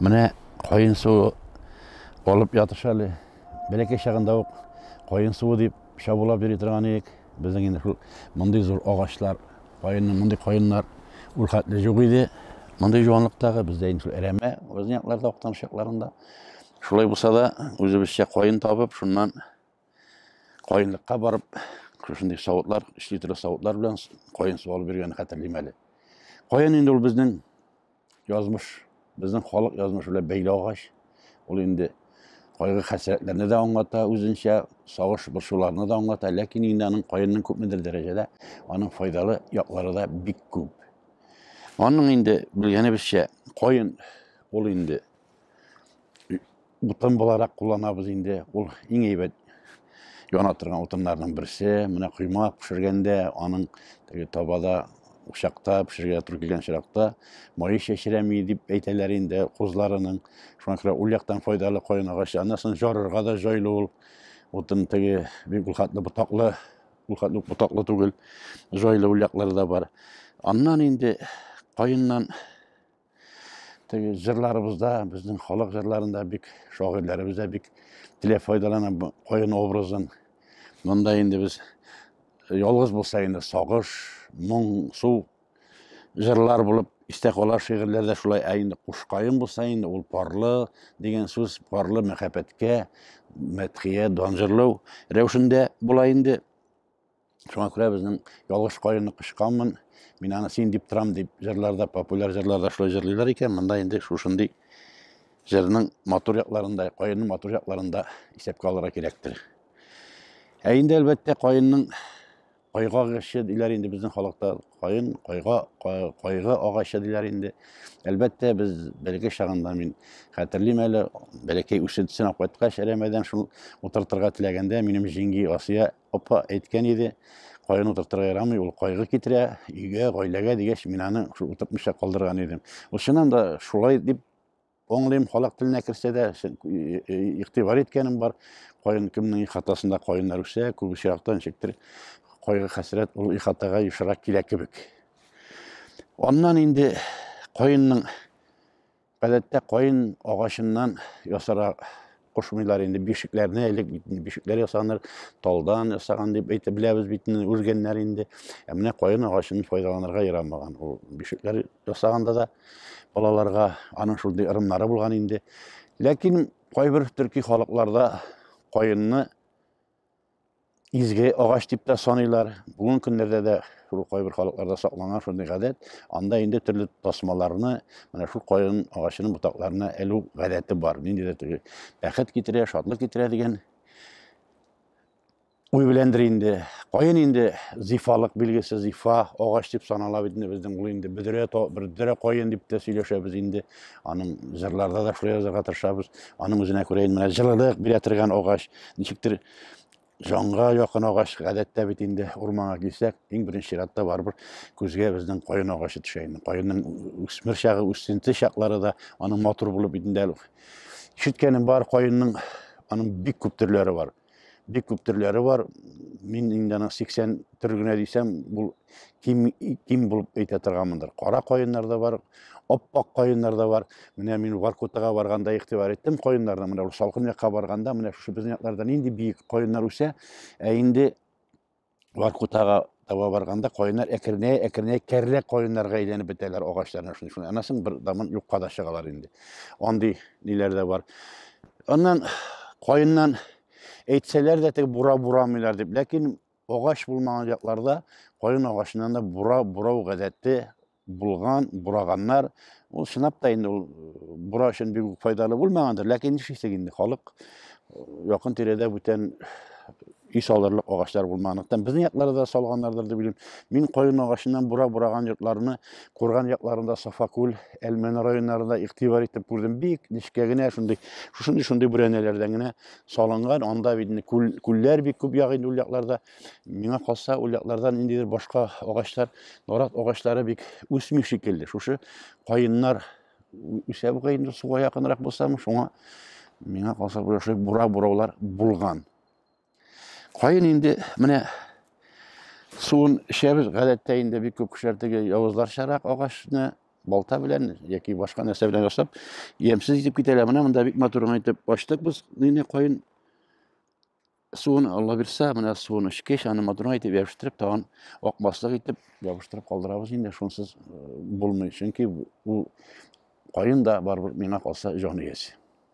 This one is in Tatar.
Менә кайын суы алып ятыш әле. Бәләкәй чагында ук кайын суы дип Чабулап йөри торган идек. Безнең инде шул мондый зур агачлар, каенны, мондый каеннар ул хәтле юк иде. Мондый җуанлыктагы бездә инде шул әрәмә безнең якларда актан чакларында. Шулай булса да, үзебезчә каен табып, шуннан каенлыкка барып, шушындый савытлар, өч литрлы савытлар белән каен суалып йөргәнне хәтерлим әле. Каен инде ул безнең Язмыш, безнең халык язмышы белән бәйле агач. Ул инде кайгы хәсрәтләрне дә аңлата, үзенчә сагыш борчуларны да аңлата, ләкин инде аның каенның күпмедер дәрәҗәдә аның файдалы яклары да бик күп. Аның инде белгәнебезчә каен ул инде Утын буларак кулланабыз инде. Ул иң әйбәт яна торган утыннарның берсе. Менә койма пешергәндә, аның теге табада учакта пешергә туры килгән чиракта мае чәчрәми дип әйтәләр инде кузларының. Шуңа күрә ул яктан файдалы каен агачы. Аннан соң жарырга да җайлы ул. Утын теге бик ул хәтле ботаклы, ул хәтле ботаклы түгел. Җайлы ул яклары да бар. Аннан инде каеннан теге җырларыбызда безнең халык җырларында бик шагыйрьләребез дә бик теләп файдалана каен образын монда инде без э, ялгыз булса инде сагыш моң су җырлар булып истә кала шигырьләрдә шулай ә инде кушкаен булса инде ул парлы дигән сүз парлы мәхәббәткә мәдхия дан җырлау рәвешендә була инде Шуңа күрә безнең ялгыш каенны кычканмын, мин аны син дип торам дип җырларда, популяр җырларда шулай җырлыйлар икән, монда инде шушындый җырның матур якларында, каенның матур якларында исәпкә алырга кирәктер. Ә инде әлбәттә каенның кайга агачы диләр инде безнең халыкта каен кайга кайгы агачы диләр инде әлбәттә без бәләкәй чагында мин хәтерлим әле бәләкәй үсентесен алып кайткач әрәмәдән шул утыртырга теләгәндә минем җиңги асия апа әйткән иде, кайгыны утыртырга ярамый, ул кайгы китерә өйгә, гаиләгә дигәч, мин аны шул утыртмыйча калдырган идем. Ул чыннан да шулай дип аңлыйм, халык теленә керсә дә игътибар иткәнем бар. Кайын кемнең хатасында кайыннар үсә, күп очракта ничектер кайгы хәсрәт ул ихатага ешрак килә кебек. Аннан инде кайынның Гадәттә каен агачыннан ясарга кушмыйлар инде бишекләрне элек бит бишекләр ясаныр талдан ясаган дип әйтеп беләбез бит үлгәннәр инде ә менә каен агачын файдаланырга ярамаган ул бишекләр ясаганда да балаларга аның шундый ырымнары булган инде ләкин кайбер төрки халыкларда каенны изге агач дип тә саныйлар. Бүгенге көннәрдә дә шул кайбер халыкларда сакланган шундый гадәт. Анда инде төрле тасмаларны менә шул каен агачының ботакларына элү гадәте бар. Нинди дә теге бәхет китерә, шатлык китерә дигән уй беләндер инде. Каен инде зифалык билгесе, зифа агач дип санала бит инде безнең ул инде бөдрә бөдрә каен дип тә сөйләшәбез инде. Аның җырларда да шулай язарга тырышабыз. Аның үзенә күрә инде менә җылылык бирә торган агач, ничектер җанга якын агач гадәттә бит инде урманга килсәк, иң беренче чиратта барыбер күзгә безнең каен агачы төшә инде. Каенның үсмер чагы, үсенте чаклары да аның матур булып инде әле. Ишеткәнем бар, каенның аның бик күп төрләре бар. бик күп төрләре бар. Мин инде аның 80 төр генә дисәм, бу ким ким булып әйтә торганмындыр. Кара каеннар да бар, аппак каеннар да бар. Менә мин Варкутага барганда игътибар иттем каеннарны. Менә ул салкын якка барганда, менә шушы безнең якларда нинди биек каеннар үсә. Ә инде Варкутага таба барганда каеннар әкренәй әкренәй кәрлә каеннарга әйләнеп бетәләр агачларны шуны шуны анасын бер дамын юкка да чыгалар инде андый ниләр дә бар аннан каеннан әйтсәләр дә теге бура бурамыйлар дип ләкин агач булмаган якларда каен агачыннан да бура бурау гадәте Булган, бураганнар. Ул чынлап та инде ул бура өчен бик үк файдалы булмагандыр, ләкин нишлисең инде, халык якын тирәдә бүтән ис алырлык агачлар булмаганлыктан безнең якларда да салганнардыр дип уйлыйм. Мин каен агачыннан бура бураган йортларны Курган якларында, Сафакүл, Әлмәне районнарында игътибар итеп күрдем. Бик нечкә генә шундый, шушындый шундый бүрәнәләрдән генә салынган. Анда бит күл, күлләр бик күп ягы инде ул якларда. Миңа калса, ул якларда ниндидер башка агачлар, нарат агачлары бик үсми шикелле. Шушы каеннар үсә бугай инде суга якынрак булсам, шуңа миңа калса бу шушы бура бураулар булган. Каен инде менә суын эчәбез, гадәттә инде бик күп кешеләр теге явызларчарак агачны балта белән яки башка нәрсә белән ясап, ямьсез итеп китәләр. Менә монда бик матур гына итеп ачтык без нине каен суын алла бирсә менә суын эчкеч аны матур итеп ябыштырып тагын акмаслык итеп ябыштырып калдырабыз инде шунсыз э, булмый чөнки ул кайын да барыбер миңа калса җан иясе